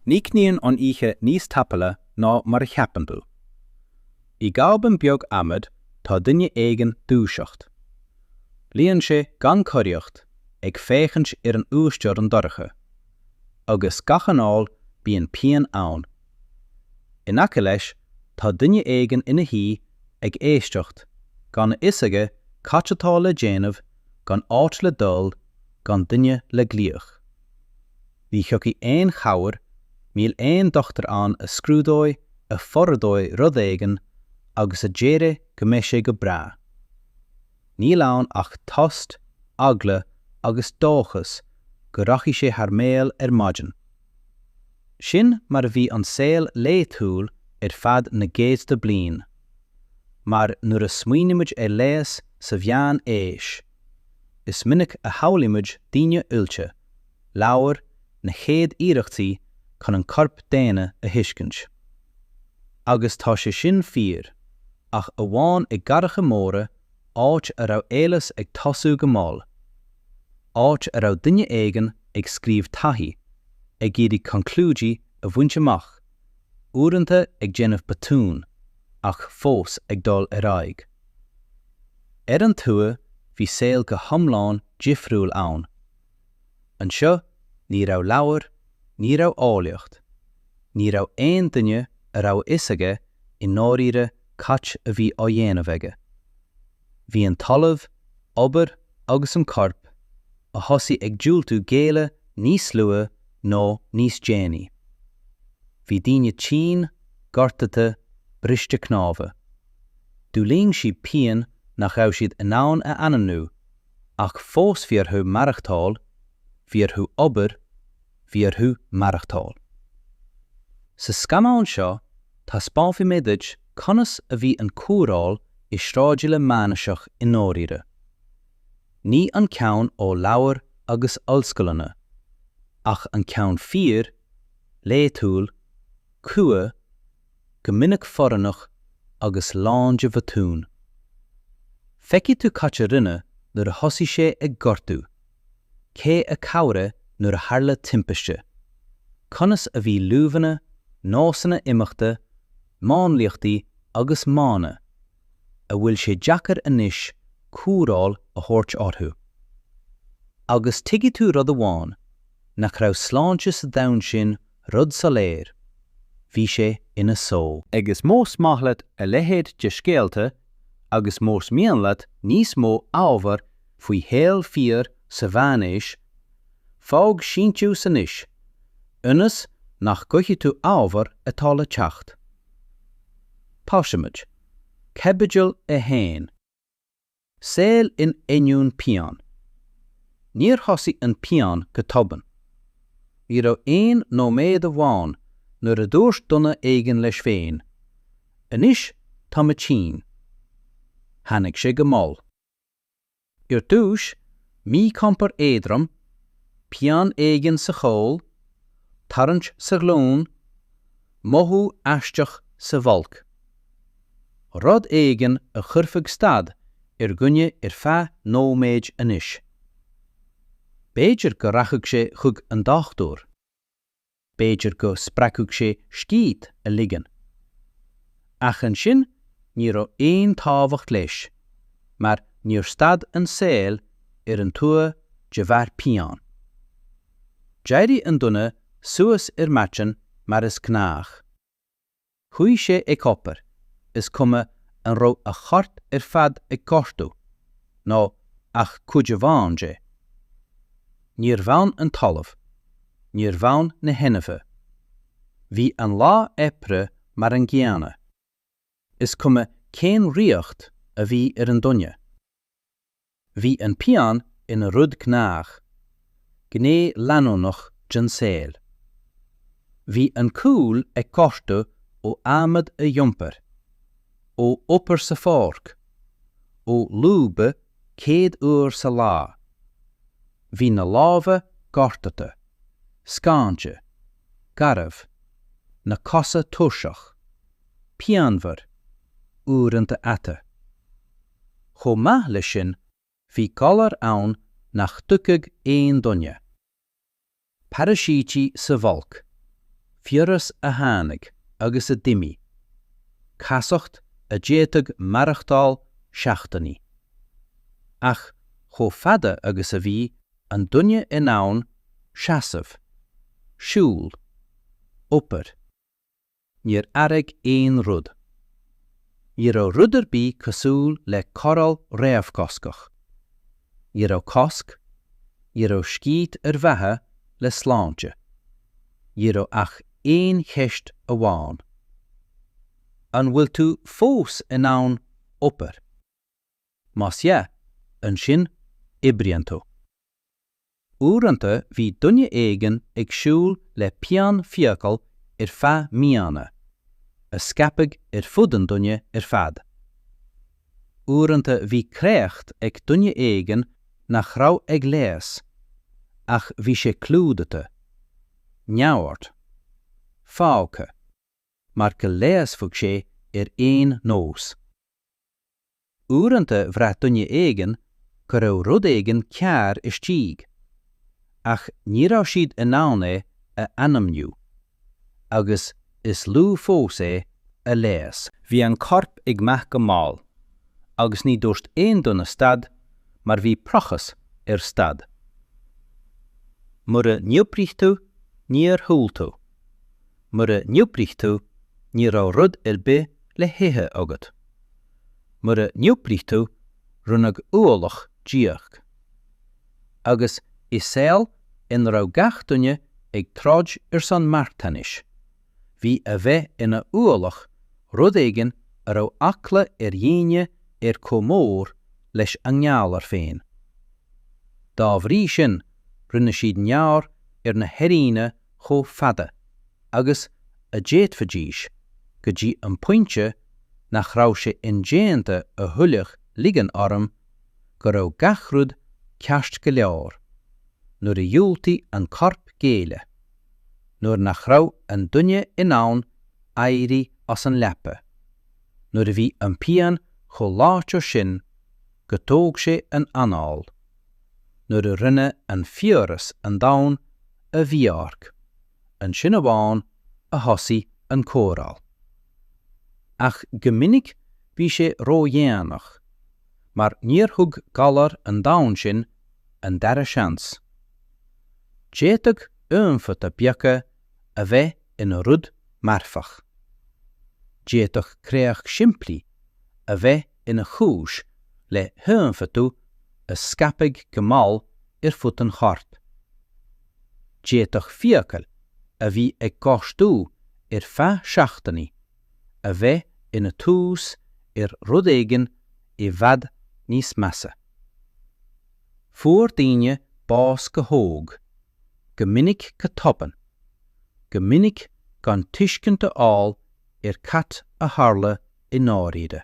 Críochnaíonn an oíche níos tapúla ná mar a cheapann tú. I gcábán beag adhmaid tá duine éigin dúiseacht. Luíonn sé gan choraíocht ag féachaint ar an uasteorainn dorcha. Agus gach anáil bíonn pian ann. In aice leis tá duine éigin ina shuí ag éisteacht, gan a fhios aige cad atá le déanamh, gan áit le dul, gan duine le glaoch. Ní thiocfaidh aon chabhair, níl aon dochtúir ann a scrúdóidh, a forordóidh rud éigin agus a déarfaidh go mbeidh sé go breá. Níl ann ach tost, eagla agus dóchas go rachaidh sé thar maoil ar maidin. Sin mar a bhí an saol laethúil ar feadh na gcéadta bliain. Mar nuair a smaoinímid ar leigheas sa mheánaois, is minic a shamhlaímid daoine oilte, leabhair na chéad iarrachtaí chun an corp daonna a thuiscint. Agus tá sé sin fíor, ach amháin i gcathracha móra, áit a raibh eolas ag tosú go mall. Áit a raibh duine éigin ag scríobh taithí, ag iarraidh conclúidí a bhaint amach, uaireanta ag déanamh botún, ach fós ag dul ar aghaidh. Ar an tuath bhí saol go hiomlán difriúil ann. Anseo ní raibh leabhair, ní raibh eolaíocht. Ní raibh aon duine a raibh a fhios aige i ndáiríre cad a bhí á dhéanamh aige. Bhí an talamh, obair agus an corp a thosaigh ag diúltú géilleadh níos luaithe nó níos déanaí. Bhí daoine tinn, gortaithe, briste cnámha. D'fhulaing siad pian nach raibh siad in ann a ainmniú, ach fós bhí orthu maireachtáil, bhí orthu obair, bhí orthu maireachtáil. Sa scannán seo taispeánfaidh mé duit conas a bhí an cóireáil i sráidbhaile meánaoiseach i ndáiríre. Ní an ceann ó leabhair agus ollscoileanna, ach an ceann fíor, laethiúil, crua, go minic forránach agus lán de bhotúin. Feicfidh tú cad a rinneadh nuair a thosaigh sé ag gortú. Cé a chabhraigh nuair a tharla timpiste. Conas a bhí luibheanna, nósanna imeachta, máinliachtaí agus modhanna a bhfuil sé deacair anois cóireáil a thabhairt orthu. Agus tuigfidh tú rud amháin, nach raibh sláinte sa domhan sin Rud soiléir. Bhí sé ina só. Agus más maith leat a leithéid de scéalta agus más mian leat níos mó ábhar faoi shaol fíor sa mheánaois, fág síntiús anois, ionas nach gcaillfidh tú ábhar atá le teacht. Tosaímid. Caibidil 1. Saol in ainneoin pian. Níor thosaigh an pian go tobann. Ní raibh aon nóiméad amháin nuair a dúirt duine éigin leis féin, Anois tá mé tinn. Tháinig sé go mall. Ar dtúis, míchompord éadrom, pian éigin sa chúl, tarraingt sa ghlúin, mothú aisteach sa bholg. Rud éigin a chuirfeadh stad ar dhuine ar feadh nóiméid anois. B'fhéidir go rachadh sé chuig an dochtúir. B'fhéidir go spreagfadh sé scíth a ligean. Ach ansin ní raibh aon tábhacht leis mar níor stad an saol ar an tuaith de bharr pian. D'éirigh an duine suas ar maidin mar is gnách. Chuaigh sé ag obair, is cuma an raibh a chorp ar fad ag gortú, nó ach cuid amháin de. Níor fhan an talamh, níor fhan na hainmhithe. Bhí an lá oibre mar an gcéanna, is cuma cén riocht a bhí ar an duine. Bhí an pian ina rud gnách, gné leanúnach den saol. Bhí an cúl ag gortú ó adhmad a d'iompar, ó obair sa pháirc, ó lúbadh céad uair sa lá. Bhí na lámha gortaithe, scáinte, garbh, na cosa tuirseach, pianmhar, uaireanta ata. Chomh maith leis sin bhí galar ann nach dtuigfeadh aon duine. Paraisítí sa bholg. Fiabhras a tháinig agus a d'imigh. Casacht a d'fhéadfadh maireachtáil seachtainí. Ach chomh fada agus a bhí an duine in ann seasamh, siúl, obair, Níor athraigh aon rud. Ní raibh rud ar bith cosúil le cóireáil réamhchoscach. Ní raibh cosc, ní raibh scíth ar mhaithe le sláinte. Ní raibh ach aon cheist amháin. An bhfuil tú fós in ann obair? Más ea, ansin, oibríonn tú. Uaireanta bhí duine éigin ag siúl le pian fiacal ar feadh míonna, a scaipfeadh ar fud an duine ar fad. Uaireanta bhí créacht ag duine éigin nach raibh ag leigheas, ach bhí sé clúdaithe. Neamhaird. Fágtha. Mar go leigheasfadh sé ar aon nós. Uaireanta bhraith duine éigin go raibh rud éigin cearr istigh, ach ní raibh siad in ann é a ainmniú. Agus is lú fós é a leigheas. Bhí an corp ag meath go mall, agus ní dúirt aon duine stad mar bhí praghas ar stad. Mura n-oibrigh tú, níor thuill tú. Mura n-oibrigh tú, ní raibh rud ar bith le hithe agat. Mura n-oibrigh tú, rinneadh ualach díot. Agus i saol ina raibh gach duine ag troid ar son marthanais, bhí a bheith ina ualach rud éigin a raibh eagla ar dhaoine air chomh mór leis an ngalar féin. Dá bhrí sin, rinne siad neamhaird ar na hairíonna chomh fada agus a d'fhéadfaidís go dtí an pointe nach raibh sé indéanta a thuilleadh ligean orm go raibh gach rud ceart go leor, nuair a dhiúltaigh an corp géilleadh, nuair nach raibh an duine in ann éirí as an leaba, nuair a bhí an pian chomh láidir sin go dtóg sé an anáil, nuair a rinne an fiabhras an domhan a Bhiork, ansin amháin a thosaigh an cóireáil. Ach go minic bhí sé ródhéanach, mar níor thug galar an domhain sin an dara seans. D'fhéadfadh ionfhabhtuithe beaga a bheith ina rud marfach. D'fhéadfadh créacht simplí a bheith ina chúis le hionfhabhtú a scaipfeadh go mall ar fud an choirp. D'fhéadfadh fiacail a bhí ag gortú ar feadh seachtainí a bheith ina tús ar rud éigin i bhfad níos measa. Fuair daoine bás go hóg, go minic go tobann, go minic gan tuiscint a fháil ar cad a tharla i ndáiríre.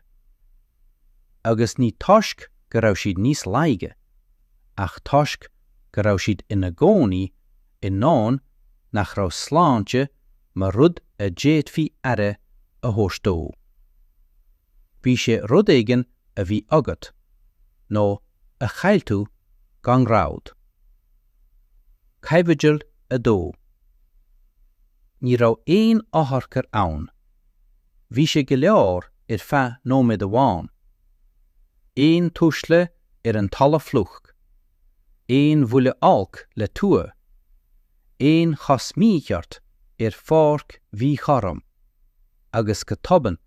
Agus ní toisc go raibh siad níos laige, ach toisc go raibh siad ina gcónaí i ndomhan nach raibh sláinte mar rud a d'fhéadfaí aire a thabhairt dó. Bhí sé rud éigin a bhí agat, nó a chaill tú gan rabhadh. Caibidil 2. Ní raibh aon otharcharr ann. Bhí sé go leor ar feadh nóiméad amháin. Aon tuisle ar an talamh fliuch. Aon bhuille olc le tua. Aon chos mhícheart ar pháirc mhíchothrom. Agus go tobann,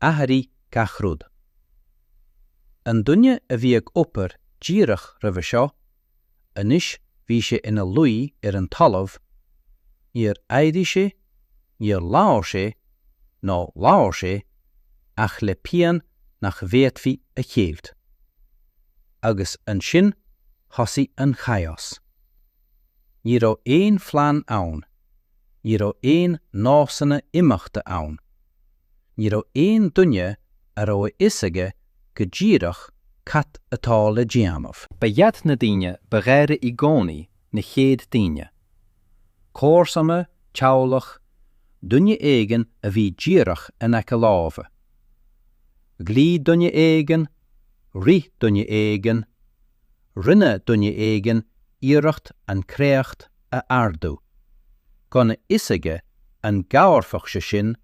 athraigh gach rud. An duine a bhí ag obair díreach roimhe seo, Anois bhí sé ina luí ar an talamh, níor éirigh sé, níor labhair sé, nó labhair sé, ach le pian nach bhféadfaí a cheilt. Agus ansin thosaigh an chaos. Ní raibh aon phlean ann, ní raibh aon nósanna imeachta ann, Ní raibh aon duine a raibh a fhios aige go díreach cad atá le déanamh. Ba iad na daoine ba ghaire i gcónaí na chéad daoine. Comharsana, teaghlach, duine éigin a bhí díreach in aice láimhe. Ghlaoigh duine éigin, rith duine éigin, rinne duine éigin iarracht an chréacht a ardú, gan a fhios aige an gcabharfadh sé sin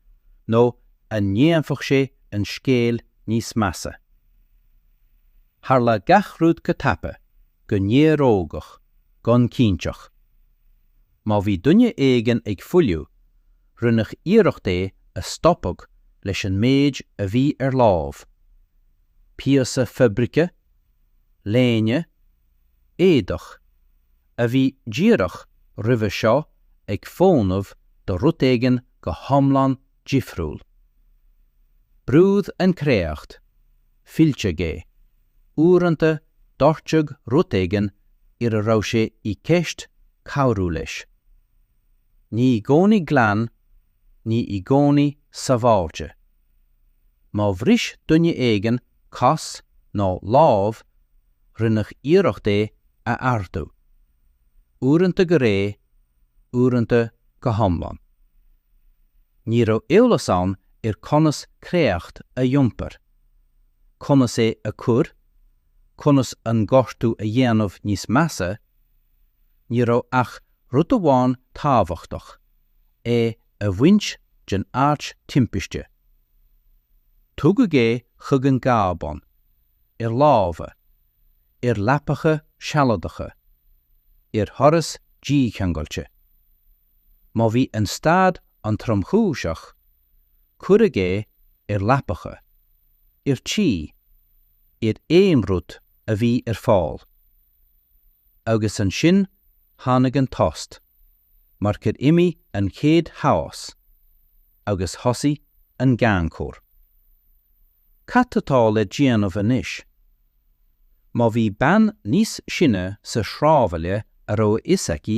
nó an ndéanfadh sé an scéal níos measa. Tharla gach rud go tapa, go néarógach, gan cinnteacht. Má bhí duine éigin ag fuiliú, rinneadh iarracht é a stopadh leis an méid a bhí ar lámh, píosa fabraice, léine, éadach, a bhí díreach roimhe seo ag fónamh do rud éigin go hiomlán difriúil. Brúdh an chréacht, filleadh é, uaireanta doirteadh rud éigin ar a raibh sé i gceist cabhrú leis. Ní i gcónaí glan ní i gcónaí sábháilte. Má bhris duine éigin cos nó lámh, rinneadh iarracht é a ardú. Uaireanta go réidh, uaireanta go hiomlán. Ní raibh eolas ann ar conas créacht a iompar, conas é a chur, conas an gortú a dhéanamh níos measa, ní raibh ach rud amháin tábhachtach, é a bhaint den áit timpiste. Tugadh é chuig an gcábán, ar lámha, ar leapacha sealadacha, ar dhoras dícheangailte. Má bhí an staid an-tromchúiseach, cuireadh é ar leapacha, ar tuí, ar aon rud a bhí ar fáil. Agus ansin tháinig an tost. mar gur imigh an chéad chaos agus thosaigh an gan chabhair. Cad atá le déanamh anois? Má bhí bean níos sine sa shráidbhaile a raibh a fhios aici,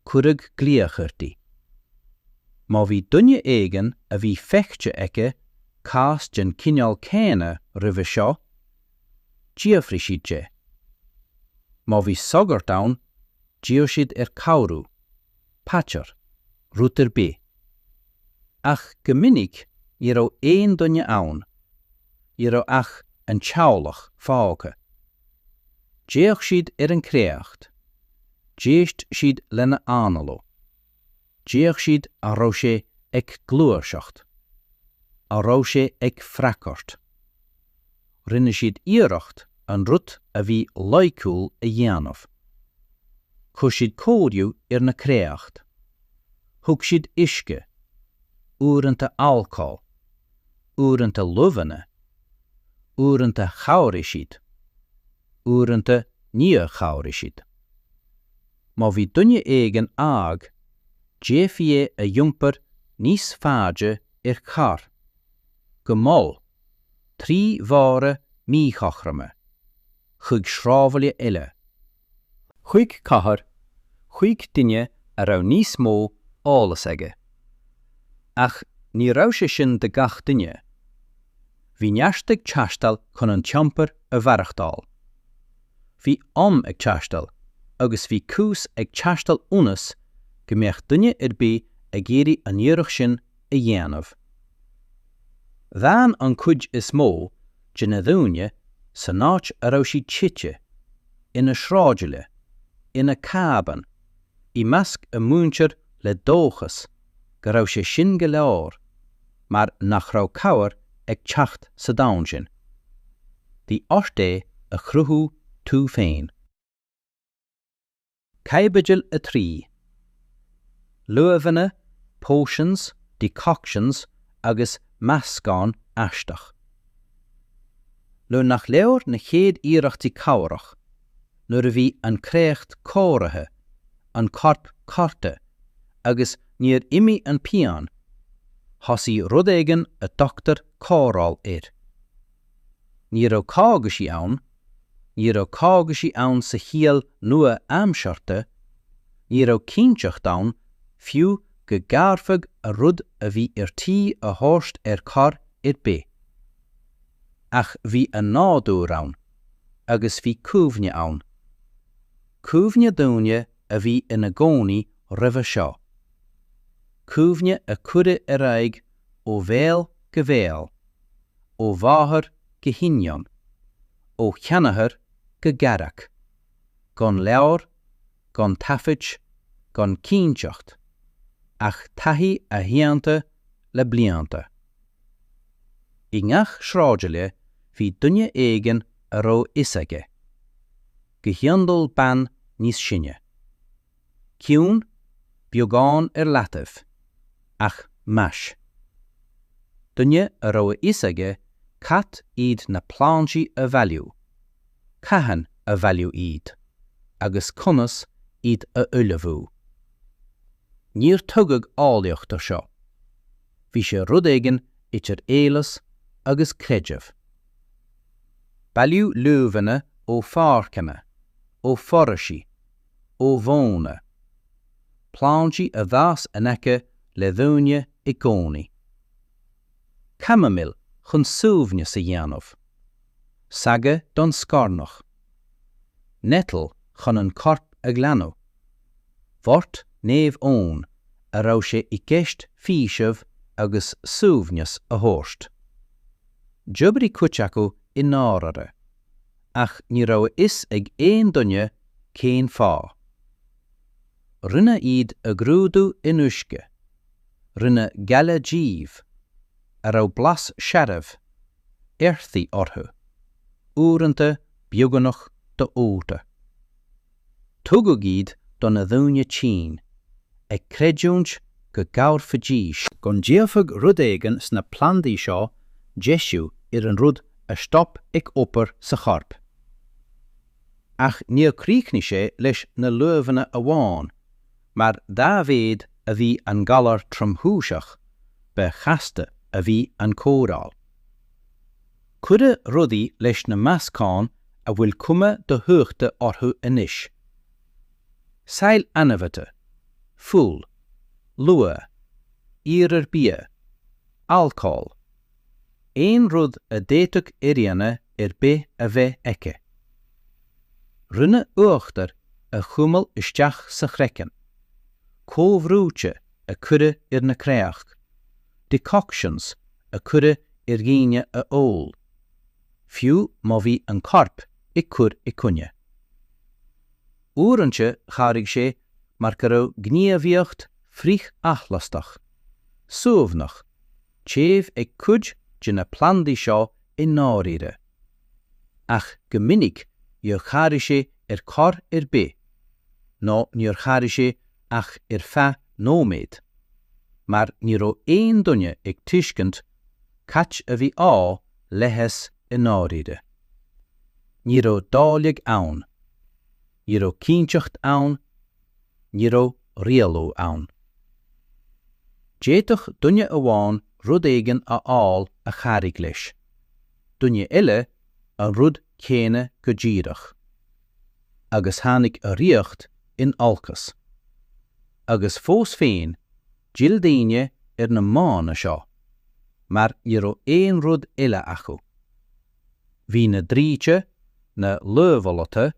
cuireadh glaoch uirthi. Má bhí duine éigin a bhí feicthe aici cás den chineál céanna roimhe seo, d'fhiafraigh siad de. Má bhí sagart ann, D'iarr siad air cabhrú, paidir, rud ar bith. Ach go minic ní raibh aon duine ann, ní raibh ach an teaghlach fágtha. D'fhéach siad ar an gcréacht, d'éist siad lena análú. D'fhéach siad an raibh sé ag gluaiseacht, an raibh sé ag freagairt. Rinne siad iarracht an rud a bhí loighciúil a dhéanamh. Chuir siad cóiriú ar na créacht. Thug siad uisce, uaireannta alcól, uaireannta luibheanna, uaireannta chabhraigh siad, uaireannta níor chabhraigh siad. má bhí duine éigin óg, d'fhéadfaí é a iompar níos faide ar charr, go mall, trí bhóithre míchothroma, chuig sráidbhaile eile, chuig cathair, chuig duine a raibh níos mó eolas aige. Ach ní raibh sé sin do gach duine. Bhí neart ag teastáil chun an t-iompar a mhaireachtáil. bhí am ag teastáil agus bhí cúis ag teastáil ionas go mbeadh duine ar bith ag iarraidh an iarracht sin a dhéanamh. D'fhan an cuid is mó de na daoine san áit a raibh siad tite, ina sráidbhaile, ina cábán, i measc a muintir le dóchas go raibh sé sin go leor. mar nach raibh cabhair ag teacht sa domhan sin. Bhí ort é a chruthú tú féin. Caibidil 3. Luibheanna, potions, decoctions agus meascán aisteach. Nuair nach leor na chéad iarrachtaí cabhrach, nuair a bhí an créacht cóirithe, an corp cortha, agus níor imigh an pian, thosaigh rud éigin a dtugtar cóireáil air. Ní raibh cógaisí ann, ní raibh cógaisí ann sa chiall nua-aimseartha, ní raibh cinnteacht ann fiú go gcabhairfeadh an rud a bhí ar tí a thabhairt ar chor ar bith. Ach bhí an nádúr ann. agus bhí cuimhne ann. Cuimhne daoine a bhí ina gcónaí roimhe seo. Cuimhne a cuireadh ar aghaidh ó bhéal go béal, ó mháthair go hiníon, ó sheanathair go garmhac, gan leabhar, gan taifid, gan cinnteacht, ach taithí aitheanta le blianta. I ngach sráidbhaile bhí duine éigin a raibh a fhios aige. Go hiondúil bean níos sine. Ciúin, beagán ar leataobh, ach meas. Duine a raibh a fhios aige cad iad na plandaí a bhailiú, cathain a bhailiú iad, agus conas iad a ullmhú. Níor tugadh eolaíocht ar seo. bhí sé rud éigin idir eolas agus creideamh. Bailíodh luibheanna ó pháirceanna, ó fhoraoisí, ó mhóna. Plandaí a d'fhás in aice le daoine i gcónaí. Camomile chun suaimhneas a dhéanamh. Sage don scornach. Nettle chun an corp a ghlanadh. Wort Naomh Eoin a raibh sé i gceist faoiseamh agus suaimhneas a thabhairt. D'oibrigh cuid acu i ndáirire, ach ní raibh a fhios ag aon duine cén fáth. Rinneadh iad a ghrúdú in uisce. Rinneadh gaile díobh, a raibh blas searbh earthy orthu, uaireanta beagnach do-ólta. Tugadh iad do na daoine tinn, ag creidiúint go gcabhairfidís, go ndéanfadh rud éigin sna plandaí seo deisiú ar an rud a stop ag obair sa chorp Ach níor chríochnaigh sé leis na luibheanna amháin Mar dá mhéad a bhí an galar tromchúiseach, ba chasta a bhí an cóireáil. Cuireadh rudaí leis na meascáin a bhfuil cuma dothuigthe orthu anois. Saill ainmhithe, fuil, luaith, iarmhar bia, alcól, aon rud a d'fhéadfadh éinne ar bith a bheith aici. Rinne uachtar a chuimilt isteach sa chraiceann, comhbhrúití a cuireadh ar na créachtaí, decoctions a cuireadh ar dhaoine a ól, fiú má bhí an corp ag cur i gcoinne. Uaireanta chabhraigh sé mar go raibh gníomhaíocht frith-athlastach, suaimhneach, téamh ag cuid de na plandaí seo i ndáiríre. Ach go minic níor chabhraigh sé ar chor ar bith, nó níor chabhraigh sé ach ar feadh nóiméad, mar ní raibh aon duine ag tuiscint cad a bhí á leigheas i ndáiríre. Ní raibh dáileadh ann. Ní raibh cinnteacht ann ní raibh rialú ann. D'fhéadfadh duine amháin rud éigin a fháil a chabhraigh leis, duine eile an rud céanna go díreach. Agus tháinig a riocht in olcas. Agus fós féin, d'fhill daoine ar na modhanna seo, mar ní raibh aon rud eile acu. Bhí na draoite, na luibheolaithe,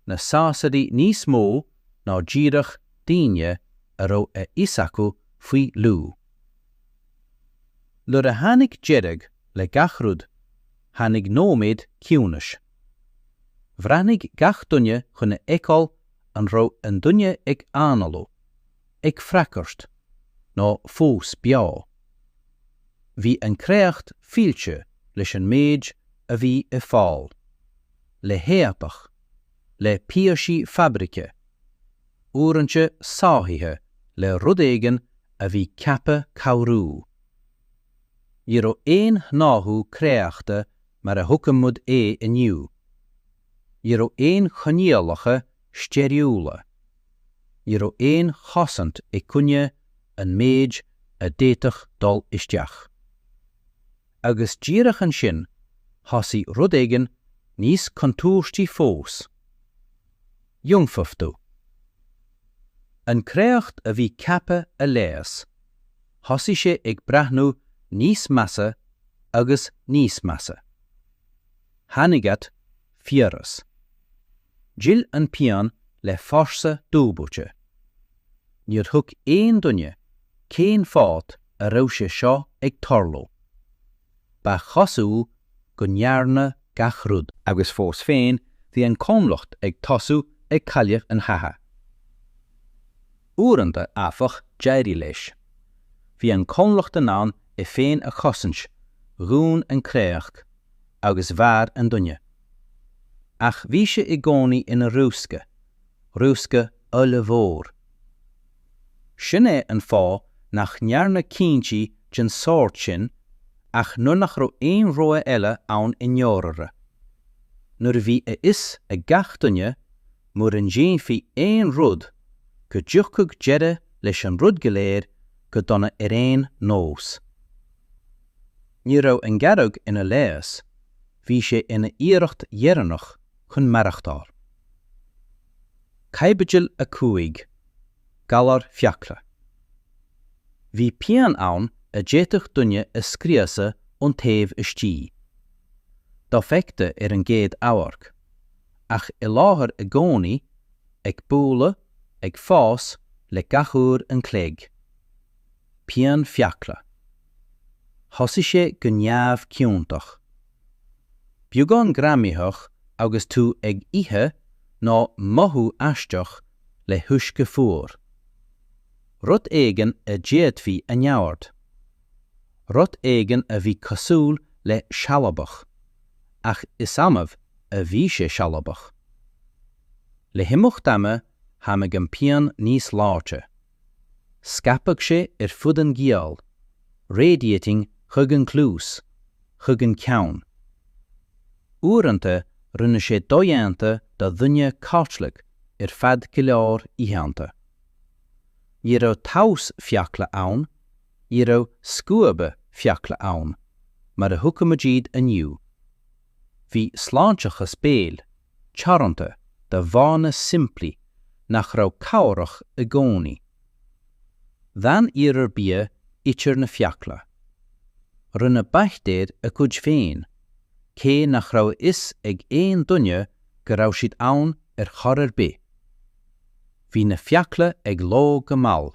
na sásaidí níos mó ná díreach daoine a raibh a fhios acu faoi luibh. Nuair a tháinig deireadh le gach rud, tháinig nóiméad ciúnais. Bhreathnaigh gach duine chun a fheiceáil an raibh an duine ag análú. ag freagairt nó fós beo. Bhí an créacht fillte leis an méid a bhí ar fáil, le héadach, le píosaí fabraice, uaireanta sáithithe le rud éigin a bhí ceaptha cabhrú. Ní raibh aon shnáithiú créachta mar a thuigimid é inniu. Ní raibh aon choinníollacha steiriúla. Ní raibh aon chosaint i gcoinne an méid a d'fhéadfadh dul isteach. Agus díreach ansin thosaigh rud éigin níos contúirtí fós. Ionfhabhtú. An créacht a bhí ceaptha a leigheas, thosaigh sé ag breathnú níos measa agus níos measa. Tháinig at. fiabhras. D'fhill an pian le fórsa dúbailte. Níor thuig aon duine cé'n fáth a raibh sé seo ag tarlú. Ba chosúil go ndearnadh gach rud. Agus fós féin bhí an comhlacht ag tosú ag cailleadh an chatha. Uaireanta, áfach, d'éirigh leis. Bhí an comhlacht in ann é féin a chosaint, dhún an créacht, agus mhair an duine. Ach bhí sé i gcónaí ina riosca, riosca ollmhór. Sin é an fáth nach ndearnadh cinntí den sórt sin ach nuair nach raibh aon rogha eile ann i ndáiríre. Nuair a bhí a fhios ag gach duine mura ndéanfaí aon rud, go dtiocfadh deireadh leis an rud go léir go dona ar aon nós. Ní raibh an gearradh ina leigheas, bhí sé ina iarracht dheireannach chun maireachtáil. Caibidil 5. Galar Fiacla. Bhí pian ann a d'fhéadfadh duine a scriosadh ón taobh istigh. Dofheicthe ar an gcéad amharc. ach i láthair i gcónaí, ag bualadh, ag fás le gach uair an chloig. Pian fiacla. Thosaigh sé go neamhchiontach. Beagán greamaitheach agus tú ag ithe ná mothú aisteach le huisce fuar. Rud éigin a d'fhéadfaí a neamhaird. Rud éigin a bhí cosúil le sealadach. ach is annamh a bhí sé sealadach. Le himeacht ama tháinig an pian níos láidre. Scaipeadh sé ar fud an ghiall, radiating chuig an gcluas, chuig an gceann. Uaireanta rinne sé dodhéanta do dhuine codladh ar feadh go leor oícheanta. Ní raibh taos fiacla ann, Ní raibh scuaba fiacla ann, mar a thuigimid iad inniu. Bhí sláinteachas béil, teoranta do mhodhanna simplí nach raibh cabhrach i gcónaí. D'fhan iarmhar bia idir na fiacla. Rinne baictéir a gcuid féin, cé nach raibh a fhios ag aon duine go raibh siad ann ar chor ar bith. Bhí na fiacla ag lobhadh go mall.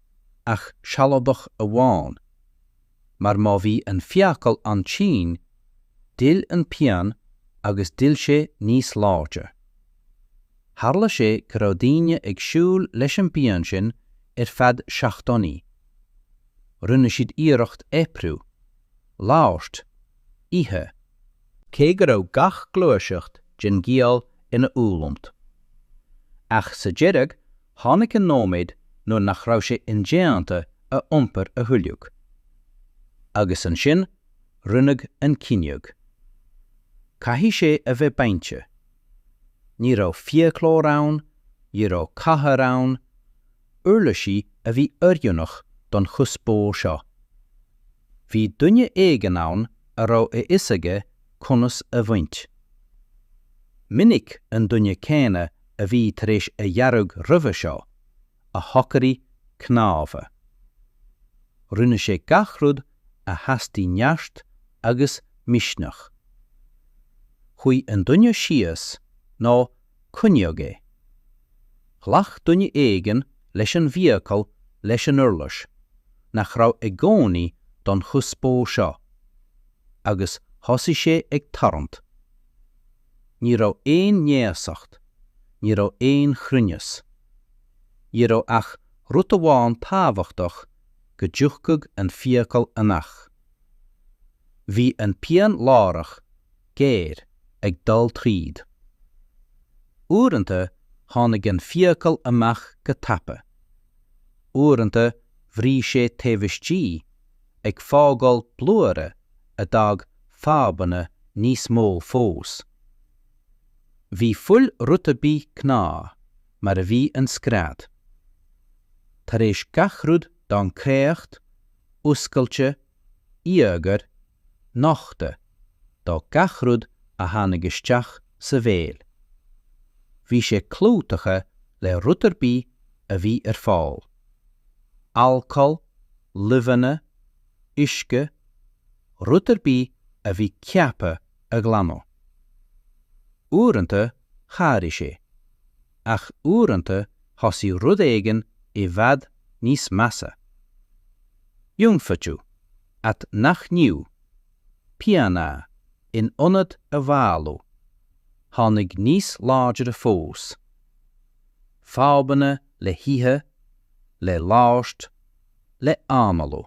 ach sealadach amháin, mar má bhí an fiacal an-tinn, d'fhill an phian agus d'fhill sé níos láidre. Tharla sé go raibh daoine ag siúl leis an bpian sin ar feadh seachtainí. Rinne siad iarracht oibriú, labhairt, ithe, cé go raibh gach gluaiseacht den ghiall ina fhulaingt. Ach sa deireadh tháinig an nóiméad nuair nach raibh sé indéanta a iompar a thuilleadh. Agus ansin rinneadh an cinneadh. Caithfidh sé a bheith bainte. Ní raibh fiaclóir ann, ní raibh cathaoir ann, uirlisí a bhí oiriúnach don chuspóir seo. Bhí duine éigin ann a raibh a fhios aige conas a bhaint. Go minic an duine céanna a bhí tar éis a dhearg roimhe seo, a shocraigh cnámha. Rinne sé gach rud a theastaigh neart agus misneach. Chuaigh an duine síos nó coinníodh é. Ghlac duine éigin leis an bhfiacail leis an uirlis, nach raibh i gcónaí don chuspóir seo, agus thosaigh sé ag tarraingt. Ní raibh ainéistéise, ní raibh aon chruinneas. Ní raibh ach rud amháin tábhachtach go dtiocfadh an fiacail amach. Bhí an pian láithreach géar ag dul tríd. Uaireanta tháinig an fiacail amach go tapa. Uaireanta bhris sé taobh istigh ag fágáil blúire a d'fhág fadhbanna níos mó fós. Bhí fuil rud ar bith gnách mar a bhí an scread. Tar éis gach rud d'fhan créacht, oscailte, íogair, nochta do gach rud a tháinig isteach sa bhéal. Bhí sé clúdaithe le rud ar bith a bhí ar fáil. Alcól, luibheanna, uisce, rud ar bith a bhí ceaptha a ghlanadh. Uaireanta chabhraigh sé, ach uaireanta thosaigh rud éigin i bhfad níos measa. Ionfhabhtú. at neachtú, pian a, in ionad a mhaolú, tháinig níos láidre fós. Fadhbanna le hithe, le labhairt, le hanálú.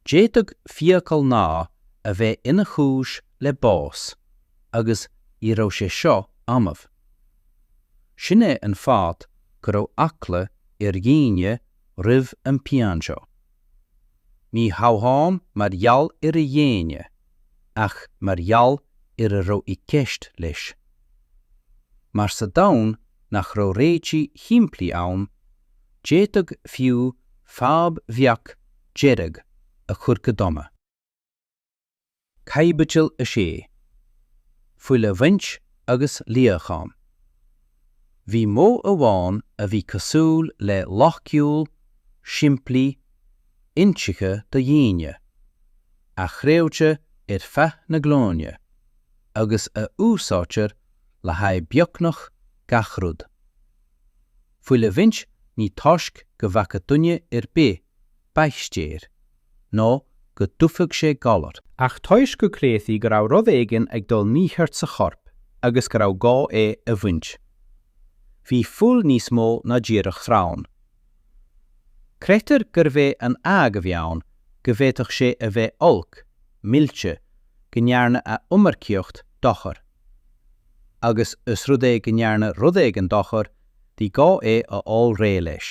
D'fhéadfadh fiacail amháin a bheith ina chúis le bás agus ní raibh sé seo annamh. Sin é an fáth go raibh eagla ar dhaoine roimh an pian seo. Ní hamháin mar gheall ar a dhéine, ach mar gheall ar a raibh i gceist leis. Mar sa domhan nach raibh réitigh shimplí ann, d'fhéadfadh fiú fadhb bheag deireadh a chur go dona. Caibidil 6. Fuil a Bhaint agus Líocháin Bhí modh amháin a bhí cosúil le loighciúil, simplí, intuigthe do dhaoine, a chreidtí ar feadh na nglúine, agus a úsáidtear le haghaidh beagnach gach rud. Fuil a bhaint ní toisc go bhfaca duine ar bith baictéir, nó go dtuigfeadh sé galar. Ach toisc go gcreidtí go raibh rud éigin ag dul mícheart sa chorp agus go raibh gá é a bhaint. Bhí fuil níos mó ná díreach sreabhán. Creidtear gurbh é an ábhar a bhí ann go bhféadfadh sé a bheith olc, millte, go ndearna a iomarcaíocht dochar. Agus os rud é go ndearna rud éigin dochar, bhí gá é a fháil réidh leis.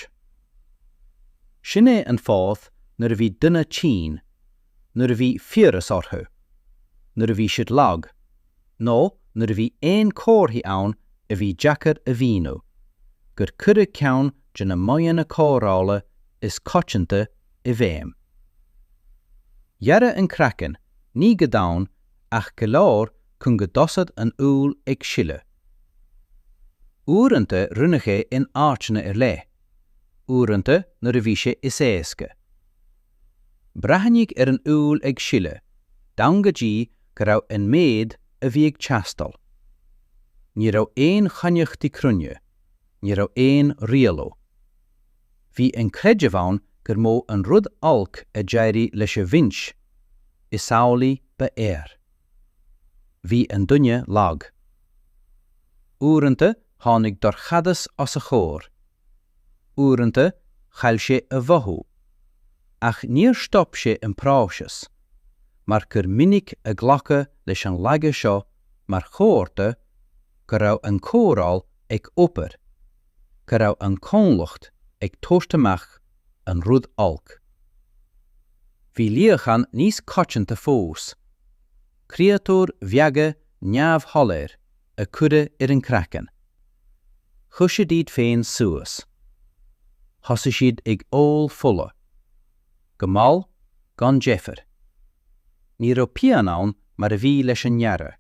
Sin é an fáth nuair a bhí duine tinn, nuair a bhí fiabhras orthu, nuair a bhí siad lag, nó nuair a bhí aon comharthaí ann a bhí deacair a mhíniú, gur cuireadh ceann de na modhanna cóireála is coitianta i bhfeidhm. Gearradh an craiceann, ní go domhain ach go leor cun go dtosódh an fhuil ag sileadh. Uaireanta rinneadh é in áiteanna ar leith, uaireanta nuair a bhí sé is éasca. Breathnaíodh ar an fhuil ag sileadh, d'fhan go dtí go raibh an méid a bhí ag teastáil. Ní raibh aon chainneachtaí cruinne, ní raibh aon rialú. Bhí an creideamh ann gur mó an rud olc a d'éirigh leis a bhaint, is amhlaidh ba fhearr. Bhí an duine lag. Uaireanta tháinig dorchadas os a chomhair. Uaireanta chaill sé a mhothú. Ach níor stop sé an próiseas, mar gur minic a glacadh leis an laige seo mar chomhartha go raibh an cóireáil ag obair. go raibh an Comhlucht ag tabhairt amach an rud olc. Bhí líocháin níos coitianta fós, creatúir bheaga neamhshoiléir a cuireadh ar an craiceann. Chuir siad iad féin suas. Thosaigh siad ag ól fola. Go mall, gan deifir. Ní raibh pian ann mar a bhí leis an ngearradh.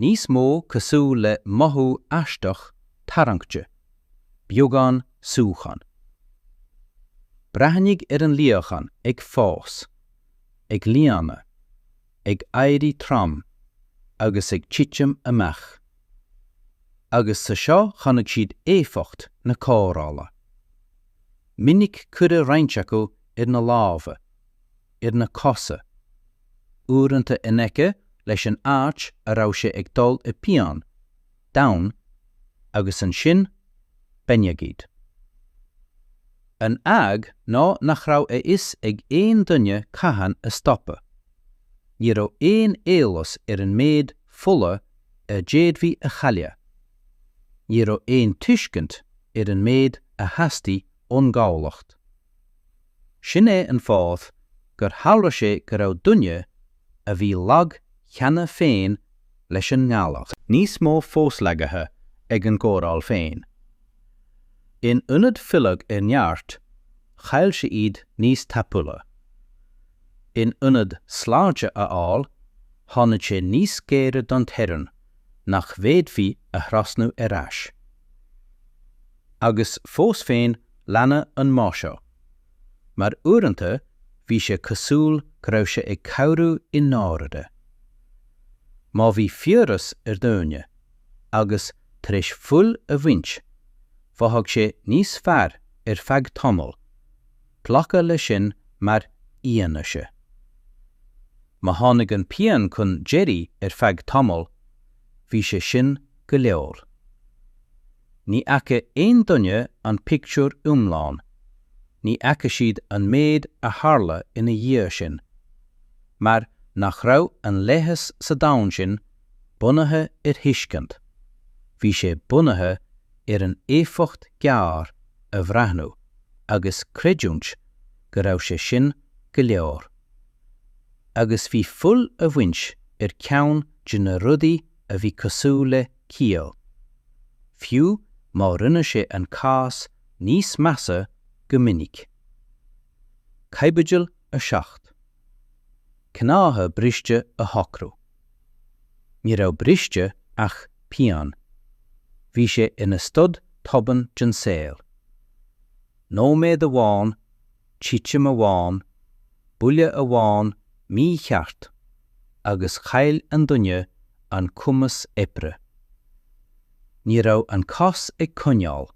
níos mó cosúil le mothú aisteach tarraingte, beagán súcháin. Breathnaíodh ar an líochán ag fás, ag líonadh, ag éirí trom agus ag titim amach. Agus sa seo chonaic siad éifeacht na cóireála. Minic cuireadh roinnt acu ar na lámha. ar na cosa, uaireanta in aice leis an áit a raibh sé ag dul i bpian, down, agus ansin b'in agat. An fhadhb ná nach raibh a fhios ag aon duine cathain stopadh. Ní raibh aon éolas ar an méid fola a d'fhéadfaí a chailleadh. Ní raibh aon tuiscint ar an méid a theastaigh ón gcolainn. Sin é an fáth gur tharla sé go raibh duine a bhí lag cheana féin leis an ngalar níos mó fós lagaithe ag an gcóireáil féin. In ionad filleadh ar neart, chaill sé iad níos tapúla. In ionad sláinte a fháil, tháinig sé níos gaire don teorainn nach bhféadfaí a thrasnú ar ais. Agus fós féin leanadh an modh seo. Mar uaireanta bhí sé cosúil go raibh sé ag cabhrú i ndáirire. Má bhí fiabhras ar dhuine, agus tar éis fuil a bhaint, mhothaigh sé níos fearr ar feadh tamaill, glacadh leis sin mar fhianaise. Má tháinig an pian chun deiridh ar feadh tamaill, bhí sé sin go leor. Ní fhaca aon duine an pictiúr iomlán. Ní fhaca siad an méid a tharla ina dhiaidh sin. Mar nach raibh an leigheas sa domhan sin bunaithe ar thuiscint. Bhí sé bunaithe ar an éifeacht gearr a bhreathnú agus creidiúint go raibh sé sin go leor. Agus bhí fuil a bhaint ar cheann de na rudaí a bhí cosúil le ciall. Fiú má rinne sé an cás níos measa go minic. Caibidil 7. Cnámha briste a shocrú. Ní raibh briste ach pian. Bhí sé ina stad tobann den saol. Nóiméad amháin titim amháin, buille amháin mícheart agus chaill an duine an cumas oibre. Ní raibh an cos ag coinneáil,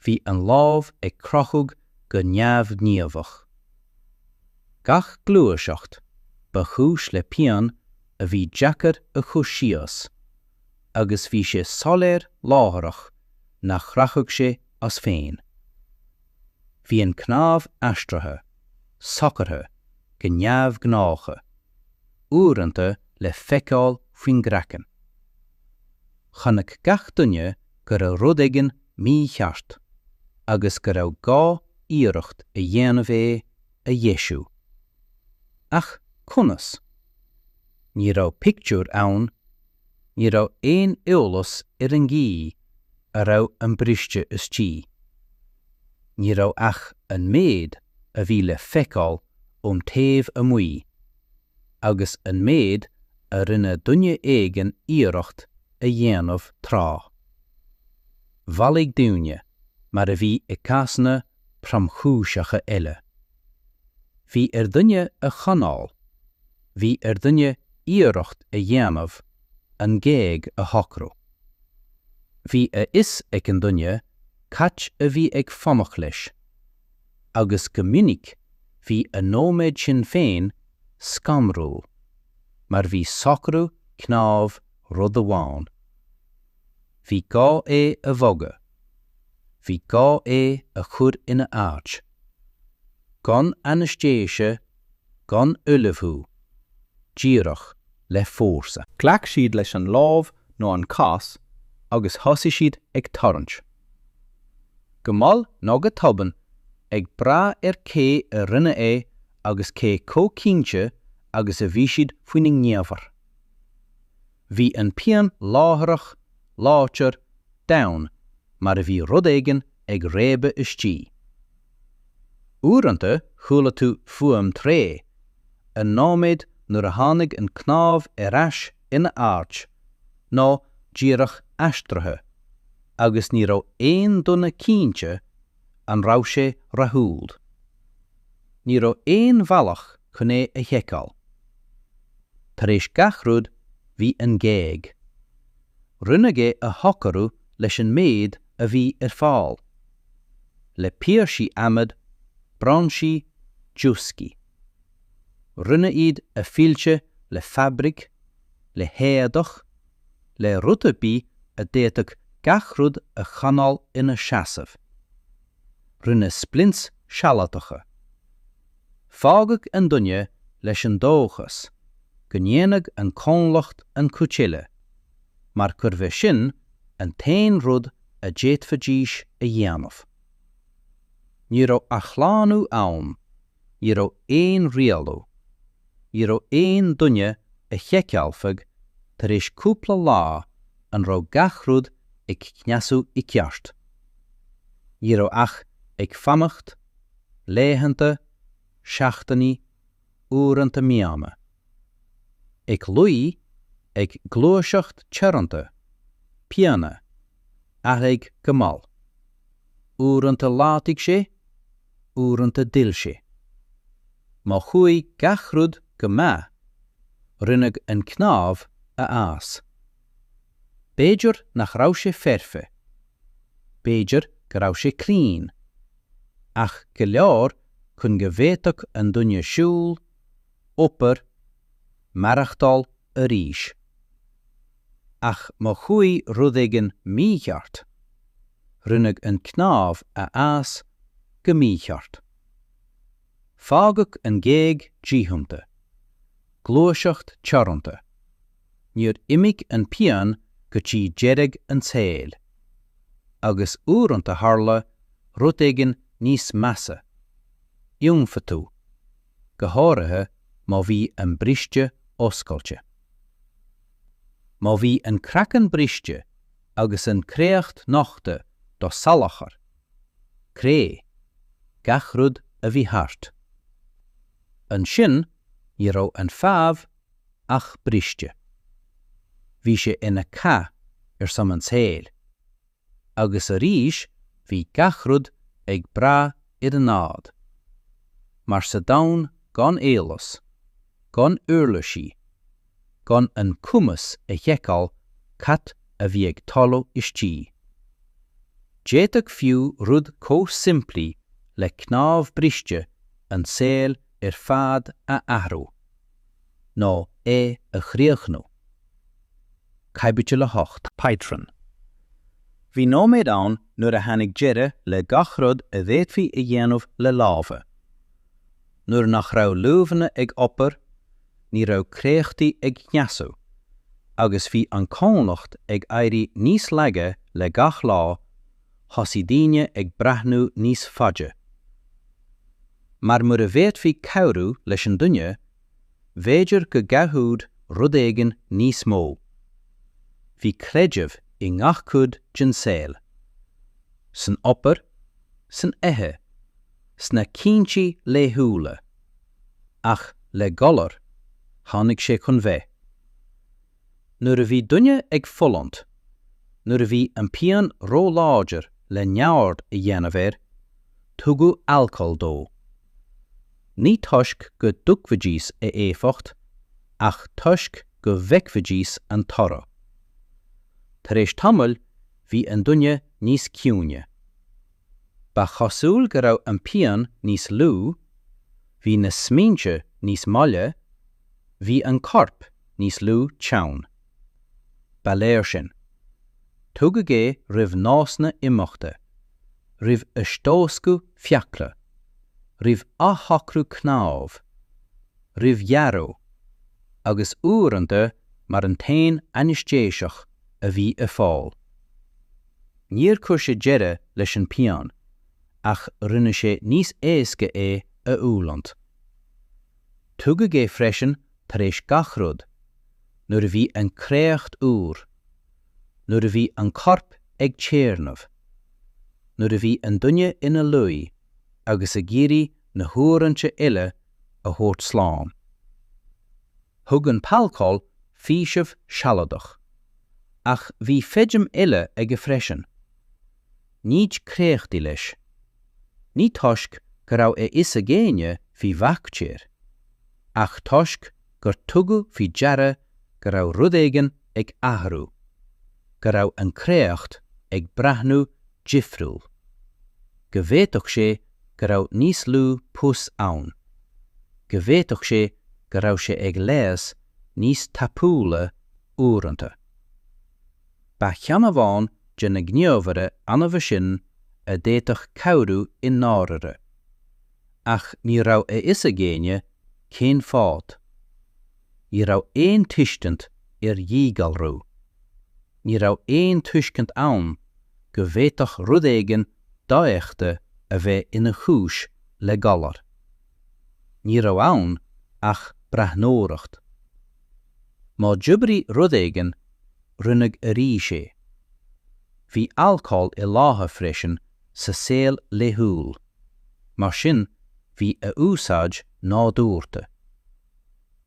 bhí an lámh ag crochadh go neamhghníomhach. Gach gluaiseacht ba chúis le pian a bhí deacair a chur síos agus bhí sé soiléir láithreach nach rachadh sé as féin. Bhí an cnámh aistrithe, socraithe, go neamhghnácha, uaireanta le feiceáil faoin gcraiceann. Chonaic gach duine go raibh rud éigin mícheart agus go raibh gá iarracht a dhéanamh é a dheisiú. Ach conas? Ní raibh pictiúr ann Ní raibh aon eolas ar an gcaoi a raibh an briste istigh. Ní raibh ach an méid a bhí le feiceáil ón taobh amuigh, agus an méid a rinne duine éigin iarracht a dhéanamh tráth. Bhailigh daoine, mar a bhí i gcásanna tromchúiseacha eile. Bhí ar dhuine a choinneáil, bhí ar dhuine iarracht a dhéanamh an ghéag a shocrú. Bhí a fhios ag an nduine cad a bhí ag fanacht leis, agus go minic bhí an nóiméad sin féin scanrúil, mar ní socrú cnámh rud amháin. Bhí gá é a bhogadh. Bhí gá é a chur ina áit. Gan ainestéise gan ullmhú, díreach le fórsa. Ghlac siad leis an lámh nó an chos agus thosaigh siad ag tarraingt. Go mall nó go tobann, ag brath ar cé a rinne é agus cé chomh cinnte agus a bhí siad faoina ngníomhartha. Bhí an phian láithreach, láidir, domhain, mar a bheadh rud éigin ag réabadh istigh. Uaireanta chuala tú fuaim thréith, an nóiméad nuair a tháinig an cnámh ar ais ina áit, nó díreach aistrithe, agus ní raibh aon duine cinnte an raibh sé rathúil. Ní raibh aon bhealach chun é a sheiceáil. Tar éis gach rud bhí an ghéag. Rinneadh é a shocrú leis an méid a bhí ar fáil. Le píosaí adhmaid, brainsí, dioscaí. Rinneadh iad a fhilleadh le fabraic, le héadach, le rud ar bith a d'fhéadfadh gach rud a choinneáil ina seasamh. Rinneadh splints sealadacha. Fágadh an duine leis an dóchas go ndéanfadh an corp an chuid eile, mar gurbh é sin an t-aon rud a d'fhéadfaidís a dhéanamh. Ní raibh athshlánú ann Ní raibh aon rialú. Ní raibh aon duine a sheiceálfadh tar éis cúpla lá an raibh gach rud ag cneasú i gceart. Ní raibh ach ag fanacht, laethanta, seachtainí, uaireanta míonna. Ag luí, ag gluaiseacht teoranta, pian a athraigh go mall. Uaireanta laghdaigh sé, uaireanta d'fhill sé. Má chuaigh gach rud go maith, rinneadh an cnámh a fhás. B'fhéidir nach raibh sé foirfe. B'fhéidir go raibh sé claon. Ach go leor chun go bhféadfadh an duine siúl, obair, maireachtáil arís. Ach má chuaigh rud éigin mícheart, rinneadh an cnámh a fhás go mícheart. Fágadh an ghéag díchumtha. Gluaiseacht teoranta. Níor imigh an pian go dtí deireadh an tsaoil. Agus uaireanta tharla rud éigin níos measa. Ionfhabhtú. go háirithe má bhí an briste oscailte. Má bhí an craiceann briste agus an créacht nochta do salachar, cré, gach rud a bhí thart. Ansin ní raibh an fhadhb ach briste. Bhí sé ina chath ar son an tsaoil. agus arís bhí gach rud ag brath ar an ádh. Mar sa domhan gan eolas, gan uirlisí, gan an cumas a sheiceáil cad a bhí ag tarlú istigh. D'fhéadfadh fiú rud chomh simplí le cnámh briste an saol ar fad a athrú. nó é a chríochnú. Caibidil 8. Pátrún. Bhí nóiméad ann nuair a tháinig deireadh le gach rud a bhféadfaí a dhéanamh le lámha. Nuair nach raibh luibheanna ag obair, ní raibh créachtaí ag cneasú, agus bhí an cholainn ag éirí níos laige le gach lá, thosaigh daoine ag breathnú níos faide. Mar mura bhféadfaí cabhrú leis an duine, b'fhéidir go gcabhródh rud éigin níos mó. Bhí creideamh i ngach cuid den saol. San obair, san ithe, sna cinntí laethúla. Ach le galar, tháinig sé chun bheith. Nuair a bhí duine ag fulaingt, nuair a bhí an pian ró-láidir le neamhaird a dhéanamh air, tugadh alcól dó. Ní toisc go dtuigfidís a éifeacht, ach toisc go bhfeicfidís an toradh. Tar éis tamaill bhí an duine níos ciúine. Ba chosúil go raibh an pian níos lú, bhí na smaointe níos moille, Bhí an corp níos lú teann. Ba léir sin. Tugadh é roimh nósanna imeachta, roimh eastóscadh fiacla, roimh athshocrú cnámh, roimh ghearradh, agus uaireanta mar an t-aon ainéistéiseach a bhí ar fáil. Níor chuir sé deireadh leis an bpian, ach rinne sé níos éasca é a fhulaingt. Tugadh é freisin tar éis gach rud, nuair a bhí an créacht úr, nuair a bhí an corp ag téarnamh, nuair a bhí an duine ina luí agus ag iarraidh na huaireanta eile a thabhairt slán. Thug an t-alcól faoiseamh sealadach. Ach bhí feidhm eile aige freisin. Nití créachtaí leis. Ní toisc go raibh a fhios ag éinne faoi bhaictéir, ach toisc gur tugadh faoi deara go raibh rud éigin ag athrú, go raibh an créacht ag breathnú difriúil. Go bhféadfadh sé go raibh níos lú pus ann. Go bhféadfadh sé go raibh sé ag leigheas níos tapúla uaireanta. Ba cheann amháin de na gníomhaire annamha sin a d'fhéadfadh cabhrú i ndáirire. Ach ní raibh a fhios ag éinne cén fáth. Ní raibh aon tuiscint ar dhíghalrú. Ní raibh aon tuiscint ann go bhféadfadh rud éigin dofheicthe a bheith ina chúis le galar. Ní raibh ann ach breathnóireacht. Má d'oibrigh rud éigin, rinneadh arís é. Bhí alcól i láthair freisin sa saol laethúil, mar sin bhí a úsáid nádúrta.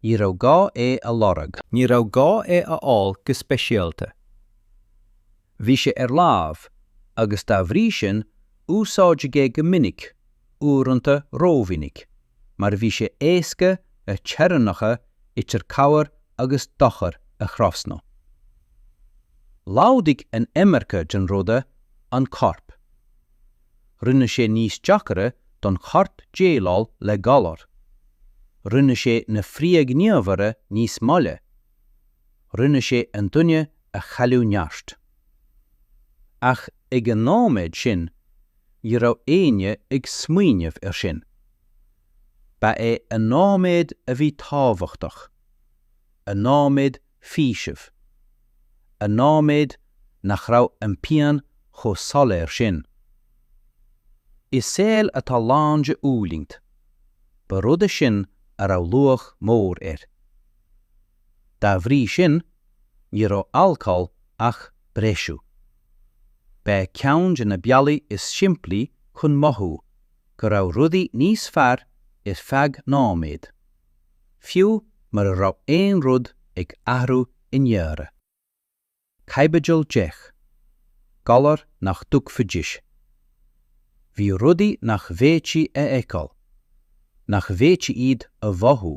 Ní raibh gá é a lorg. Ní raibh gá é a fháil go speisialta. Bhí sé ar láimh, agus dá bhrí sin úsáideadh é go minic uaireanta rómhinic, mar bhí sé éasca na teorainneacha idir cabhair agus dochar a thrasnú. Laghdaigh an iomarca den rud an corp. Rinne sé níos deacra don chorp déileáil le galar. Rinne sé na frithghníomhartha níos moille. Rinne sé an duine a chailliúint neart. Ach ag an nóiméad sin ní raibh éinne ag smaoineamh ar sin. Ba é an nóiméad a bhí tábhachtach, an nóiméad faoisimh, an nóiméad nach raibh an pian chomh soiléir sin. I saol atá lán de fhulaingt, ba rud é sin a raibh luach mór air. Dá bhrí sin, ní raibh alcól ach breisiú. Ba é ceann de na bealaí is simplí chun mothú go raibh rudaí níos fearr ar feadh nóiméad, fiú mura raibh aon rud ag athrú i ndáiríre. Caibidil Deich, Galair nach dtuigfidís. Bhí rudaí nach bhféadfaí a fheiceáil, nach bhféadfaí iad a mhothú,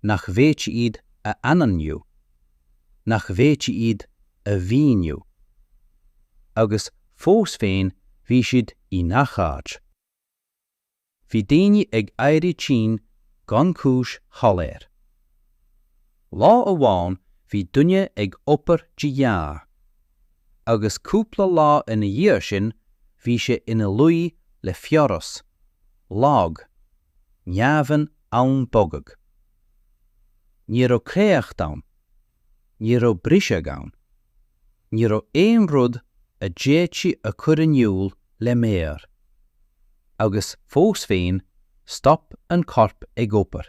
nach bhféadfaí iad a ainmniú, nach bhféadfaí iad a mhíniú. Agus fós féin bhí siad i ngach áit. Bhí daoine ag éirí tinn gan cúis shoiléir. Lá amháin bhí duine ag obair de ghnáth, agus cúpla lá ina dhiaidh sin bhí sé ina luí le fiabhras, lag, neamh-in ann bogadh. Ní raibh créacht ann, Ní raibh briseadh ann. Ní raibh aon rud a d'fhéadfaí a chur in iúl le méar. Agus fós féin stop an corp ag obair.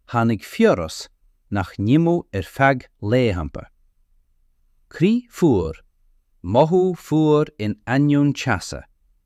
Tháinig fiabhras nach n-imeodh ar feadh laethanta. Crith fuar, mothú fuar in ainneoin teasa.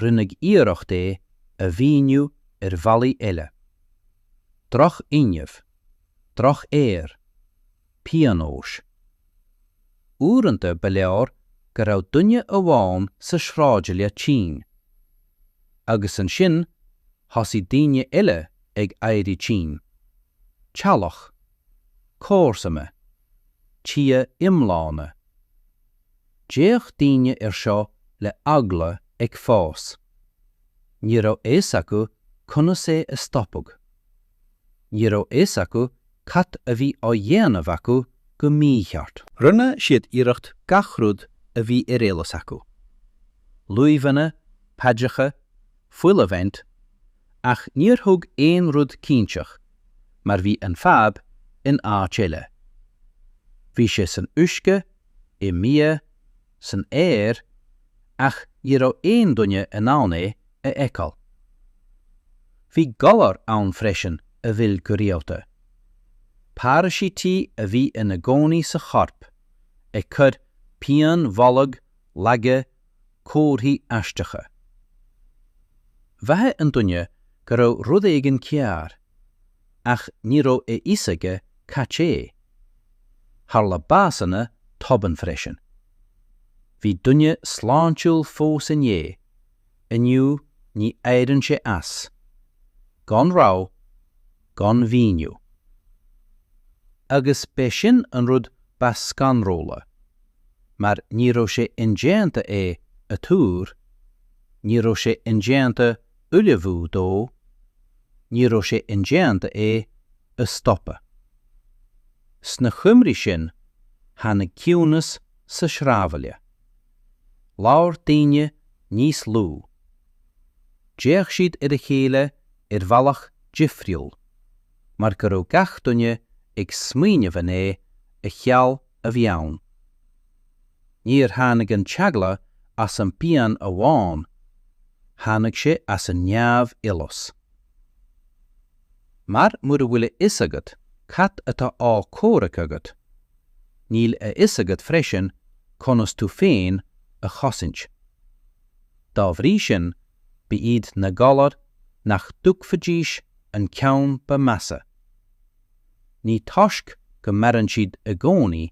rinneadh iarracht é a mhíniú ar bhealaí eile. Drochfhuinneamh. Drochaer. Pionós. Uaireanta ba leor go raibh duine amháin sa sráidbhaile tinn. Agus ansin thosaigh daoine eile ag éirí tinn. Teaghlach. Comharsana. Tithe iomlána. D'fhéach daoine ar seo le heagla ag fás. Ní raibh fhios acu conas é a stopadh. Ní raibh fhios acu cad a bhí á dhéanamh acu go mícheart. Rinne siad iarracht gach rud a bhí ar eolas acu, luibheanna, paidreacha, fuil a bhaint, ach níor thug aon rud cinnteach mar bhí an fhadhb in áit eile. Bhí sé san uisce i mbia, san aer, ach ní raibh aon duine in ann é a fheiceáil. Bhí galar ann freisin a bhí ann go rialta. Paraisítí a bhí ina gcónaí sa chorp, ag cur pian bholg, laige, comharthaí aisteacha. Mhothaigh an duine go raibh rud éigin cearr. ach ní raibh a fhios aige cad é. Tharla básanna tobann freisin. Bhí duine sláintiúil fós inné, inniu ní éiríonn sé as. Gan rabhadh, gan mhíniú. Agus b'é sin an rud ba scanrúla, mar ní raibh sé indéanta é a tuar, ní raibh sé indéanta ullmhú dó, ní raibh sé indéanta é a stopadh. Sna coimrí sin tháinig ciúnas sa sráidbhaile. Labhair daoine níos lú. D'fhéach siad ar a chéile ar bhealach difriúil mar go raibh gach duine ag smaoineamh an é a sheal a bhí ann. Níor tháinig an t-eagla as an bpian amháin, tháinig sé as an neamh-eolas. Mar mura bhfuil a fhios agat cad atá á chomhrac agat, níl a fhios agat freisin conas tú féin a chosaint. Dá bhrí sin, ba iad na galair nach dtuigfidís an ceann ba mheasa. ní toisc go maraíonn siad i gcónaí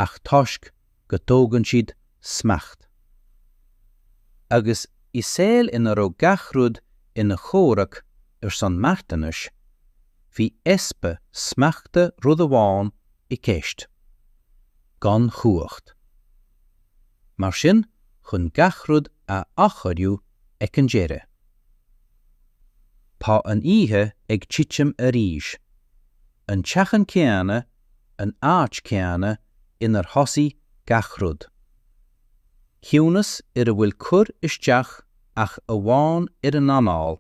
ach toisc go dtógann siad smacht. Agus i saol ina raibh gach rud ina chomhrac ar son marthanais, bhí easpa smachta rud amháin i gceist. Gan chumhacht. Mar sin chun gach rud a achoimriú ag an deireadh. Tá an oíche ag titim arís. An teachín céanna, an áit céanna inar thosaigh gach rud. Ciúnas ar a bhfuil cur isteach ach amháin ar an anáil,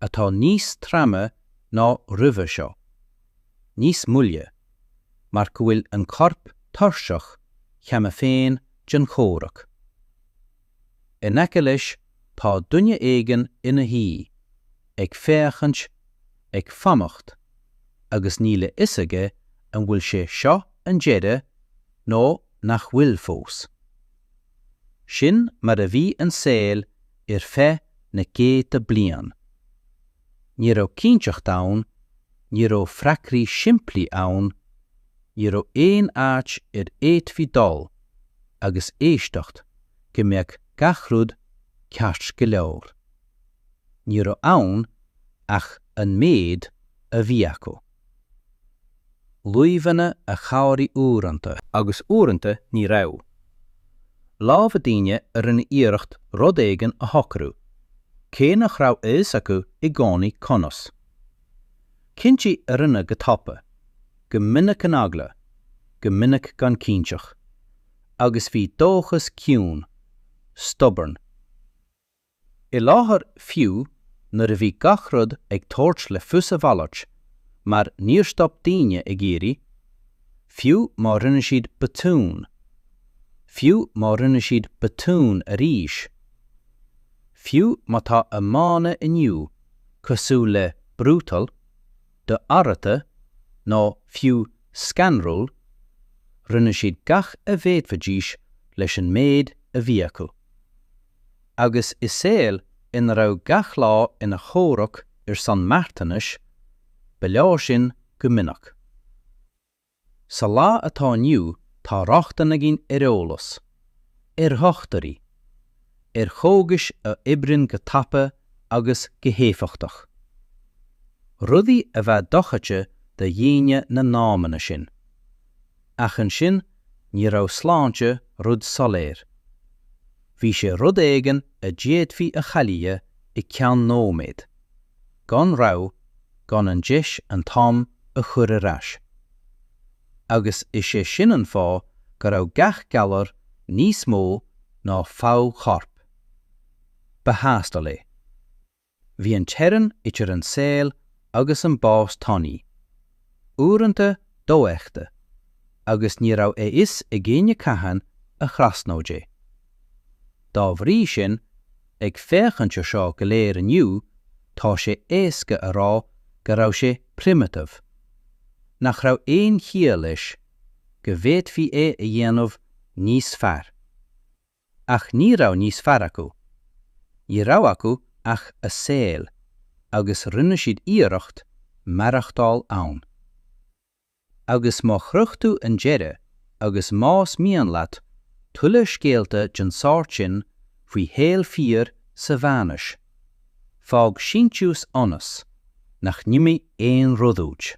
atá níos troime ná roimhe seo. Níos moille, mar go bhfuil an corp tuirseach cheana féin den chomhrac. In aice leis tá duine éigin ina shuí, ag féachaint, ag fanacht, agus níl a fhios aige an bhfuil sé seo an deireadh nó nach bhfuil fós. Sin mar a bhí an saol ar feadh na gcéadta bliain. Ní raibh cinnteacht ann, ní raibh freagraí simplí ann, ní raibh aon áit a bhféadfaí dul agus éisteacht go mbeadh gach rud ceart go leor. Ní raibh ann ach an méid a bhí acu. luibheanna a chabhraigh uaireanta. agus uaireanta ní raibh. lámha daoine a rinne iarracht rud éigin a shocrú, cé nach raibh a fhios acu i gcónaí conas. cinntí a rinneadh go tapa, go minic in eagla, go minic gan cinnteacht. Agus bhí dóchas ciúin, stubborn. I láthair fiú nuair a bhí gach rud ag tabhairt le fios a mhalairt, mar níor stop daoine ag iarraidh, fiú má rinne siad botún, fiú má rinne siad botún arís, fiú má tá a mbeanna inniu cosúil le brutal, d'ársa nó fiú scanrúil, rinne siad gach a bhféadfaidís leis an méid a bhí acu. agus i saol ina raibh gach lá ina chomhrac ar son marthanais, ba leor sin go minic. Sa lá atá inniu tá rochtain againn ar eolas, ar dhochtúirí, ar chógais a oibríonn go tapa agus go héifeachtach. Rudaí a bheadh dochreidte do dhaoine na n-amanna sin. Ach ansin ní raibh sláinte rud soiléir. Bhí sé rud éigin a d'fhéadfaí a chailleadh i gceann nóiméad, gan rabhadh, gan an deis an t-am a chur ar ais. Agus is é sin an fáth go raibh gach galar níos mó ná fadhb choirp. Ba thástáil é. Bhí an teorainn idir an saol agus an bás tanaí, uaireanta dofheicthe, agus ní raibh a fhios ag éinne cathain a thrasnódh é. Dá bhrí sin, ag féachaint ar seo go léir inniu, tá sé éasca a rá go raibh sé primitive, nach raibh aon chiall leis, go bhféadfaí é a dhéanamh níos fearr. Ach ní raibh níos fearr acu. Ní raibh acu ach a saol agus rinne siad iarracht maireachtáil ann. Agus má shroich tú an deireadh agus más mian leat tuilleadh scéalta den sórt sin faoi shaol fíor sa mheánaois, fág síntiús ionas nach n-imí aon rud uait.